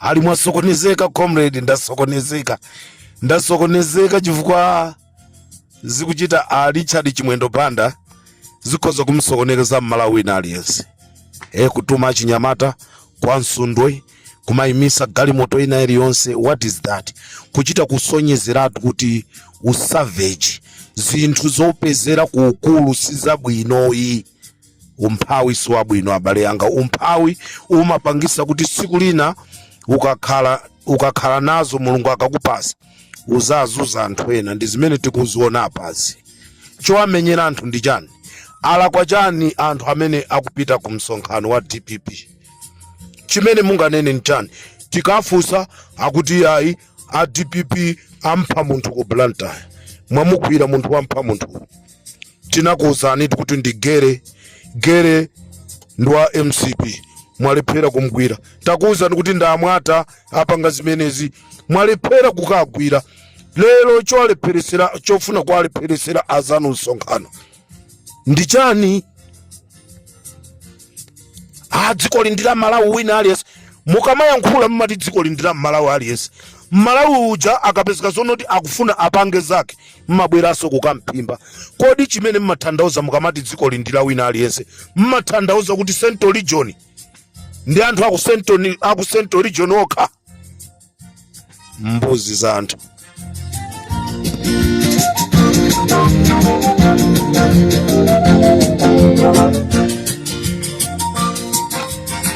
ali mwasokonezeka comrade ndasokonezeka ndasokonezeka chifukwa zikuchita a richard chimwendo banda zikhoza kumsokonekeza mmalawi wina aliyense e kutuma achinyamata kwa msundwe kumayimisa galimoto ina iliyonse what is that kuchita kusonyezeratu kuti usavage zinthu zopezera ku ukulu si zabwino ayi umphawi si wabwino abale anga umphawi umapangisa kuti siku lina ukakhala nazo mulungu akakupasa uzazunza anthu ena ndi zimene tikuziona apazi chowamenyera anthu ndi chani alakwa chani anthu amene akupita ku msonkhano wa dpp chimene munganene ndi chani tikafunsa akuti ayi a dpp ampha munthu ku blantyre mwamugwira munthu wampha munthu tinakuuzanitu kuti ndi gere gere ndi wa mcp mwalephera kumgwira takuuzani kuti ndamwata apanga zimenezi mwalephera kukagwira lero chowalepheresera chofuna kuwalepheresera azanu msonkhano ndi chani a dziko li ndi la mmalawi wina aliyense mukamayankhula mumati dziko li ndi la mmalawi aliyense mmalawi uja akapezeka zonoti akufuna apange zake mmabweranso kukamphimba kodi chimene mmathandauza mukamati dziko li ndi la wina aliyense mmathandauza kuti central region ndi anthu aku central aku central region okha mbuzi za anthu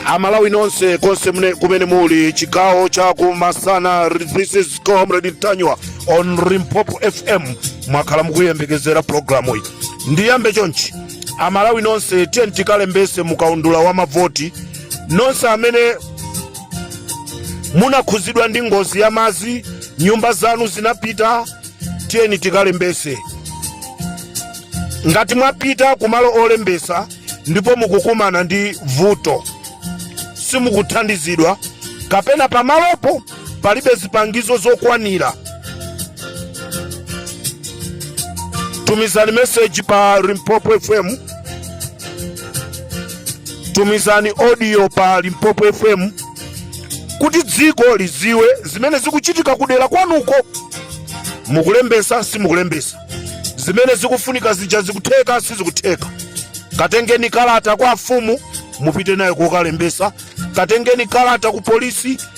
amalawi nonse konse mne- kumene muli chigawo cha kumasana this is comrade mtanyiwa on limpopo fm mwakhala mukuyembekezera pulogalamu iyi ndiyambe chonchi amalawi nonse tiye tikalembese mukaundula wa mavoti nonse amene munakhuzidwa ndi ngozi ya madzi nyumba zanu zinapita tiyeni tikalembese ngati mwapita kumalo olembesa ndipo mukukumana ndi vuto simukuthandizidwa kapena pamalopo palibe zipangizo zokwanira tumizani meseji pa limpopo fm tumizani audio pa limpopo fm kuti dziko lidziwe zimene zikuchitika kudera kwanuko mukulembesa simukulembesa zimene zikufunika zija zikutheka sizikutheka katengeni kalata kwa afumu mupite nayo kokalembesa katengeni kalata ku polisi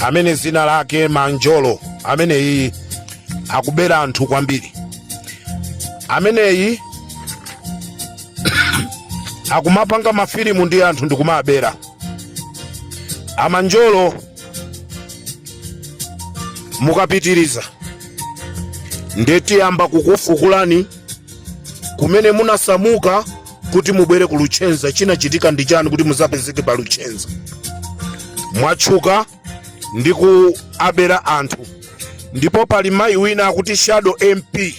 amene zina lake manjolo ameneyi akubera anthu kwambiri ameneyi akumapanga mafilimu ndi anthu ndikumabera amanjolo mukapitiriza nde tiyamba kukufukulani kumene munasamuka kuti mubwere ku luchenza chinachitika ndi chani kuti muzapezeke pa luchenza mwatchuka ndi kuwabera anthu ndipo pali mayi wina akuti shadow mp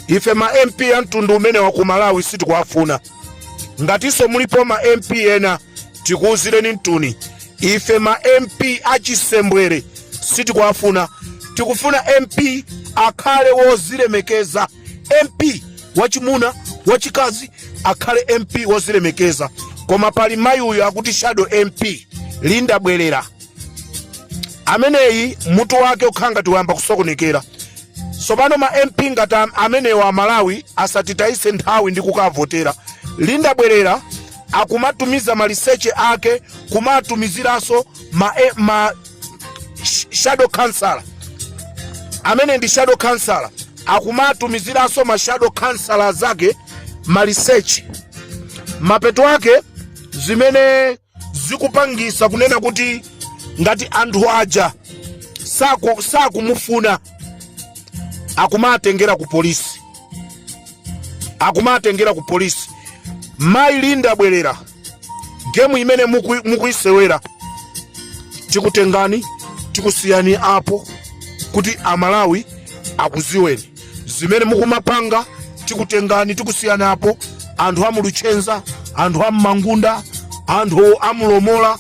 ife ma mp a mtundu umenewu ku malawi sitikuwafuna ngatinso mulipo ma mp ena tikuwuzireni mtuni ife ma mp achisembwere sitikuwafuna tikufuna mp akhale wozilemekeza mp wachimuna wachikazi akhale mp wozilemekeza koma pali mayi uyu akuti shadow mp linda bwerera ameneyi mutu wake ukhala ngati wayamba kusokonekera tsopano ma mp ngati am- amenewa amalawi asatitayise nthawi ndi kukavotera linda bwerera akumatumiza maliseche ake kumatumiziranso ma, e- ma shadow councilor amene ndi shadow councilor akumatumiziranso ma shadow councilor zake maliseche mapeto ake zimene zikupangisa kunena kuti ngati anthu aja saku- sakumufuna akumatengera ku polisi akumatengera ku polisi mayi linda bwerera gemu imene muku- mukuyisewera tikutengani tikusiyani apo kuti amalawi akuziweni zimene mukumapanga tikutengani tikusiyani apo anthu amuluchenza anthu ammangunda anthu amulomola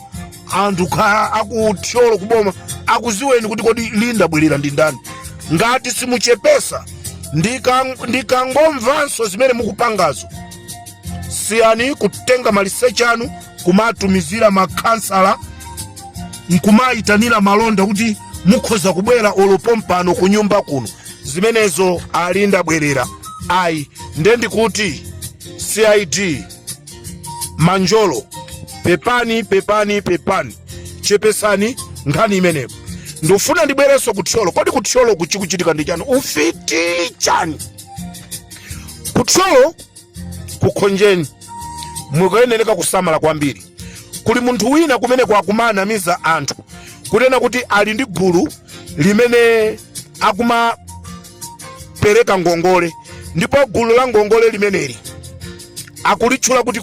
anthu akuthyolo kuboma akuziweni kuti kodi linda bwerera ndi ndani ngati simuchepesa ndikangomvanso zimene mukupangazo siyani kutenga maliseche anu kumatumizira makhansala nkumayitanira malonda kuti mukhoza kubwera olo pompano ku nyumba kuno zimenezo a linda bwerera ayi nde ndikuti cid manjolo pepani pepani pepani chepesani nkhani imeneyo ndifuna ndibwerenso ku thyolo kodi ku thyolo kuchikuchitika ndi chani ufiti chani ku thyolo kukhonjeni mukuyenereka kusamala kwambiri kuli munthu wina kumeneko akumanamiza anthu kunena kuti ali ndi gulu limene akumapereka ngongole ndipo gulu la ngongole limeneli akulitchula kuti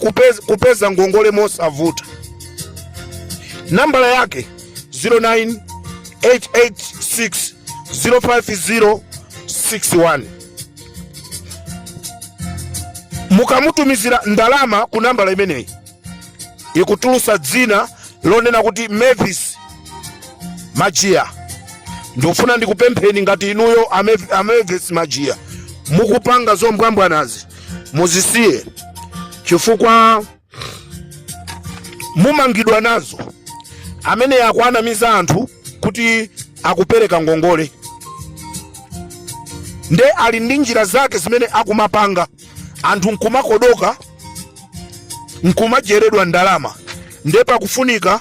kupeza ngongole mosavuta nambala yake 09886 05061 mukamutumizira ndalama ku nambala imeneyi ikutulusa dzina lonena kuti mavis majiya ndikufuna ndikupempheni ngati inuyo a mavis majiya mukupanga zombwambwanazi muzisiye chifukwa mumangidwa nazo amene akuwanamiza anthu kuti akupereka ngongole nde ali ndi njira zake zimene akumapanga anthu nkumakodoka nkumajeredwa ndalama nde pakufunika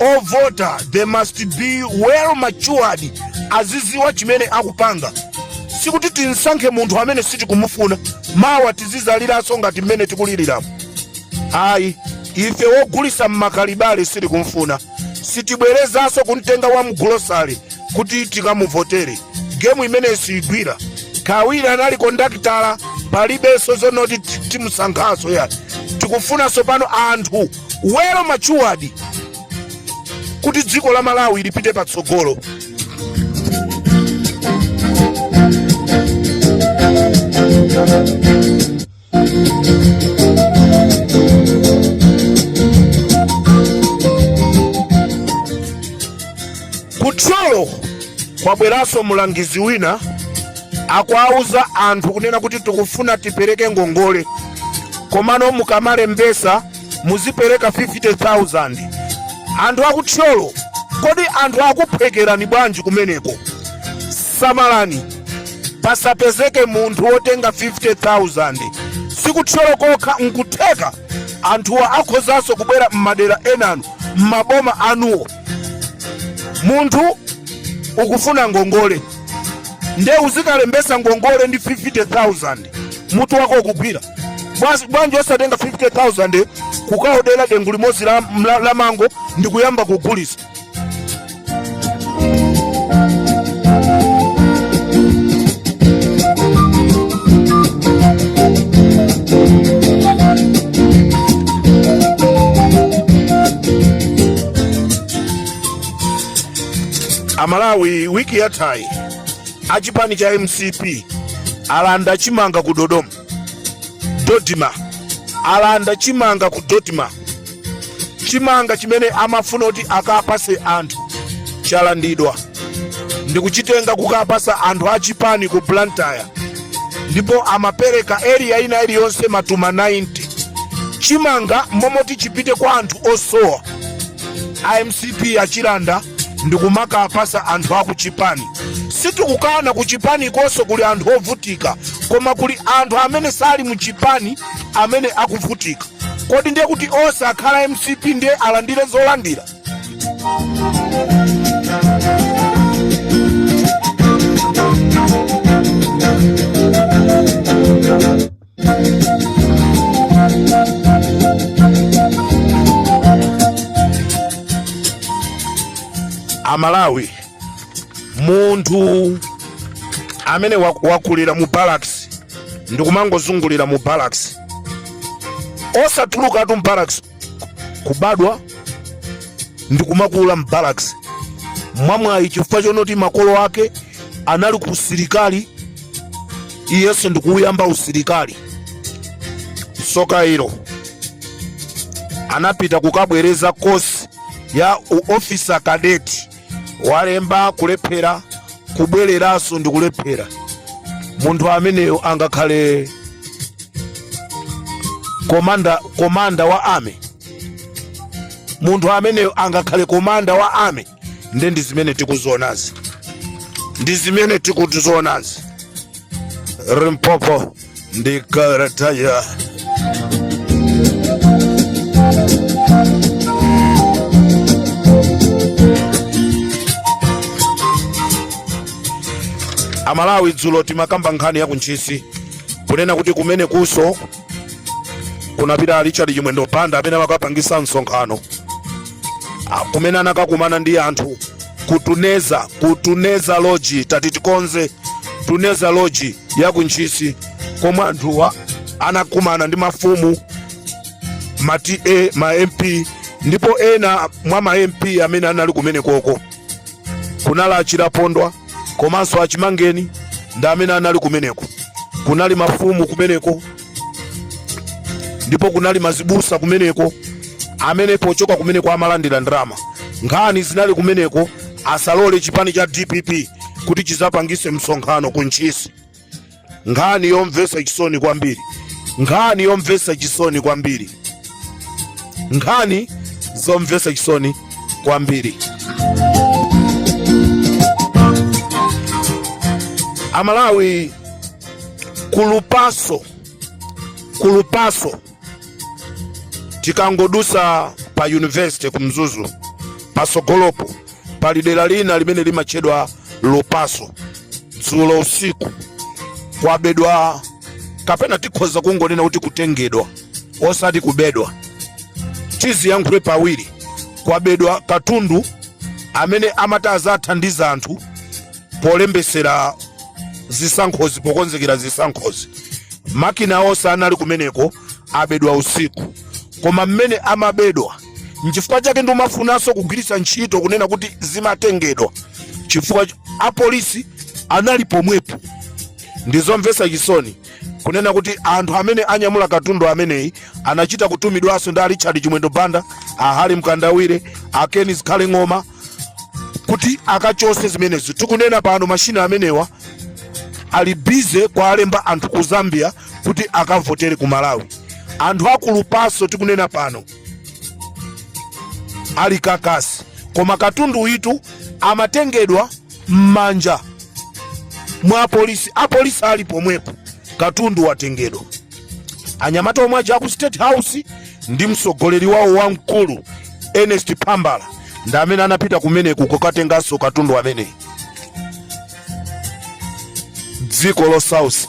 ovota they must be well matured aziziwa chimene akupanga sikuti tisankhe munthu amene sitikumufuna mawa tizizaliranso ngati mmene tikuliriramu ayi ife wogulisa mmakalibale sitikumfuna sitibwerezanso kumtenga wa mgulosale kuti tikamuvotere gemu imeneyi siyigwira kawiri anali kondakitala palibenso zonoti timusankhanso yayi tikufuna tsopano anthu well matured kuti dziko la malawi lipite patsogolo kuthyolo kwabweranso mulangizi wina akuwauza anthu kunena kuti tikufuna tipereke ngongole komano mukamalembesa muzipereka 50000 anthu akuthyolo kodi anthu akuphwekerani bwanji kumeneko samalani pasapezeke munthu wotenga 50000 sikuthyolo kokha nkutheka anthuwa akhozanso kubwera m'madera enanu m'maboma anuwo munthu ukufuna ngongole nde uzikalembesa ngongole ndi 50000 mutu wako ukugwira bwanji osatenga 50000 kukaodera dengu limodzi la mango ndi kuyamba kugulisa amalawi wiki yathayi achipani cha mcp alanda chimanga ku dodoma dodma alanda chimanga ku dodma chimanga chimene amafuna kuti akapase anthu chalandidwa ndikuchitenga kukapasa anthu achipani ku blantyre ndipo amapereka area ina iliyonse matumba 90 chimanga momoti chipite kwa anthu osowa a mcp achilanda ndikumakapasa anthu akuchipani sitikukana kuchipanikonso kuli anthu ovutika koma kuli anthu amene sali muchipani amene akuvutika kodi ndiye kuti onse akhale mcp ndiye alandire zolandira amalawi munthu amene wakulira mu barracks ndikumangozungulira mu barracks osatulukatu mu barracks kubadwa ndikumakula m'barracks mwamwayi chifukwa chonoti makolo ake anali ku usilikali iyenso ndikuuyamba usilikali soka ilo anapita kukabwereza kosi ya u- officer cadet walemba kulephera kubwereranso ndikulephera munthu ameneyo angakhale komanda komanda wa army munthu ameneyo angakhale komanda wa army nde ndi zimene tikuzionazi ndi zimene tikuzionazi limpopo ndi kalata ya amalawi dzulo timakamba nkhani ya kuntchisi kunena kuti kumenekunso kunapita richard chimwendo banda amene amakapangisa msonkhano kumene anakakumana ndi anthu ku tuneza ku tuneza lodge tati tikonze tuneza lodge ya kuntchisi komwe anthuwa anakumana ndi mafumu ma ta ma mp ndipo ena mwa ma mp amene anali kumenekoko kunali achilapondwa komanso achimangeni ndi amene anali kumeneko kunali mafumu kumeneko ndipo kunali mazibusa kumeneko amene pochoka kumeneko amalandira ndalama nkhani zinali kumeneko asalole chipani cha dpp kuti chizapangise msonkhano ku ntchisi nkhani yomvesa chisoni kwambiri nkhani yomvesa chisoni kwambiri nkhani zomvetsa chisoni kwambiri amalawi ku Lupaso ku Lupaso tikangodusa pa university ku mzuzu pasogolopo pali dera lina limene limatchedwa lupaso dzulo usiku kwabedwa kapena tikhoza kungonena kuti kutengedwa osati kubedwa tiziyankhule pawiri kwabedwa katundu amene amati azathandiza anthu polembesera zisankhozi pokonzekera zisankhozi makina onse anali kumeneko abedwa usiku koma mmene amabedwa nchifukwa chake ndimafunanso kugwiritsa ntchito kunena kuti zimatengedwa chifukwa apolisi anali pomwepo ndi zomvetsa chisoni kunena kuti anthu amene anyamula katundu ameneyi anachita kutumidwanso ndi a richard chimwendo banda a Harry mkandawire a ken zikhale ng'oma kuti akachose zimenezo tikunena pano mashina amenewa ali bize kuwalemba anthu ku zambia kuti akavotere ku malawi anthu aku Lupaso tikunena pano ali kakasi koma katundu uyitu amatengedwa m'manja mwa apolisi apolisi ali pomwepo katundu watengedwa anyamata omwe aja aku state house ndi mtsogoleri wawo wamkulu ernest phambala ndi amene anapita kumeneku kukatenganso katundu ameneyi dziko losausa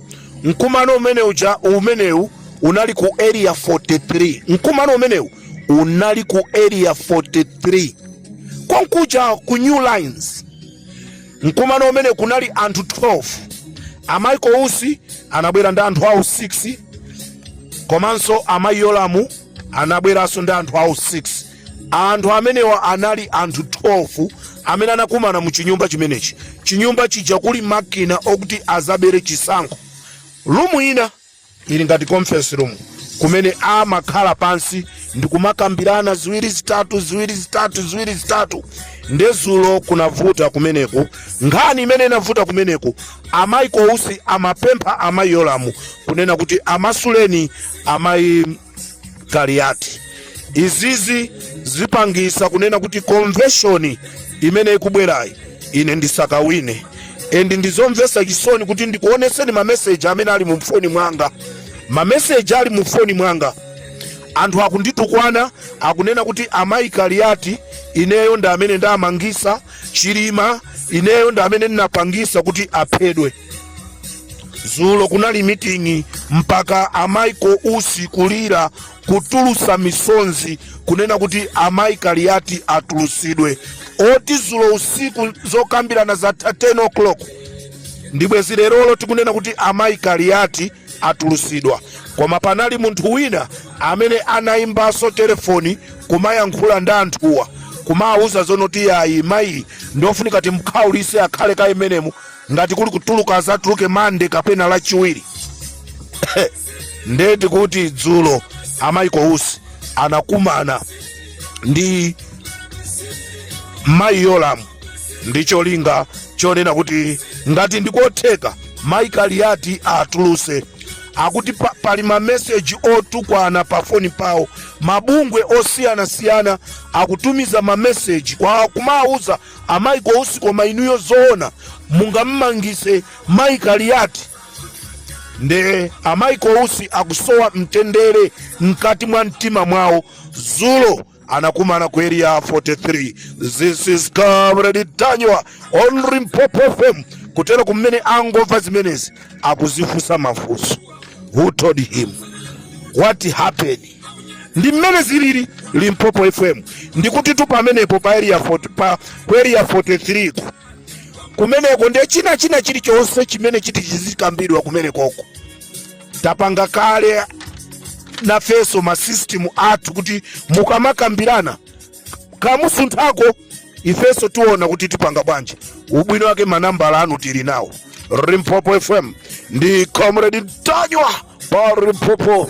Mkumano umenewu unali ku area 43. Mkumano umenewu unali ku area 43 konkuja ku New Lines. Mkumano umene kunali anthu 12 a Michael Usi anabwera ndi anthu awo 6 komanso amayi Yolamu anabweranso ndi anthu awo 6. anthu amenewa anali anthu 12 amene anakumana mu chinyumba chimenechi chinyumba chija kuli makina okuti azabere chisankho lumu ina ili ngati conference room kumene amakhala pansi ndikumakambirana ziwiri zitatu nde zulo kunavuta kumeneko nkhani imene inavuta kumeneko a michael usi amapempha amayi yolamu kunena kuti amasuleni amayi kaliyati izizi zipangisa kunena kuti konveshoni imene ikubwerayi ine ndisakawine and ndizomvesa chisoni kuti ndikuoneseni mameseji amene ali mu foni mwanga mameseji ali mu foni mwanga anthu akunditukwana akunena kuti amayi kaliyati ineyo ndi amene ndamangisa chilima ineyo ndi amene ndinapangisa kuti aphedwe zulo kunali meeting mpaka a michael usi kulira kutulusa misonzi kunena kuti amayi kaliati atulusidwe oti zulo usiku zokambirana zatha 10 o'clock ndibwezi lerolo tikunena kuti amayi kaliati atulusidwa koma panali munthu wina amene anayimbanso telefoni kumayankhula ndi anthuwa kumawuza zonoti yayi mayi ndofunika timkhaulise akhale kaye mmenemu ngati kuli kutuluka azatuluke mande kapena lachiwiri nde tikuti dzulo a michael usi anakumana ndi mayi yolamu ndi cholinga chonena kuti ngati ndikotheka mayi kaliati atuluse akuti pali mameseji otukwana pa foni pawo mabungwe osiyanasiyana akutumiza mameseji kwa kumawuza A michael usi koma inuyo zoona mungamumangise mai kaliati nde a michael usi akusowa mtendere mkati mwa mtima mwawo zulo anakumana ku area 43 this is comrade ntanyiwa on limpopo fm kutereku amene angomva zimenezi akuzifunsa mafunso who told him what happened ndi mmene zilili limpopo fm ndikutitu pamenepo pa ku area 43 kumeneko nde china china chilichonse chimene chiti chizikambidwa kumenekoko tapanga kale nafeso masystem athu kuti mukamakambirana kamusunthako ifenso tiona kuti tipanga bwanji ubwino wake manambala anu tili nawo limpopo fm ndi comrade ntanyiwa pa limpopo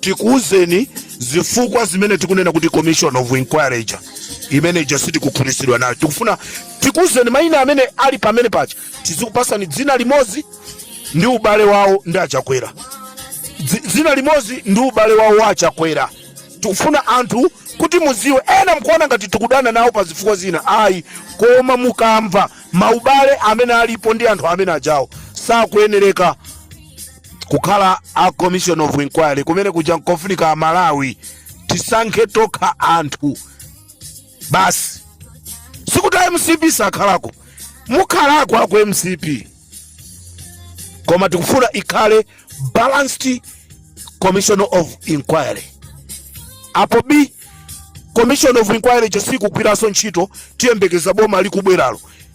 tikuwuzeni zifukwa zimene tikunena kuti commission of inquiry ija imene ija sitikukhutitsidwa nayo tikufuna tikuwuzeni mayina amene ali pamene paja tizikupasani dzina limodzi ndi ubale wawo ndi achakwera dzina limodzi ndi ubale wawo wa achakwera tikufuna anthu kuti muziwe ena mkuona ngati tikudana nawo pa zifukwa zina ayi koma mukamva maubale amene alipo ndi anthu amene ajawo sakuyenereka kukhala a commission of inquiry kumene kuja nkofunika amalawi tisankhe tokha anthu basi sikuti a mcp sakhalako mukhalako aku mcp koma tikufuna ikhale balanced commission of inquiry apo bii commission of inquiry ija sikugwiranso ntchito tiyembekeza boma likubweralo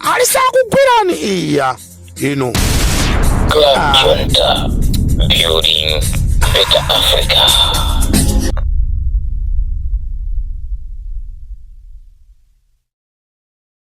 alisakugwirani iya ino Club Junta, building better Africa.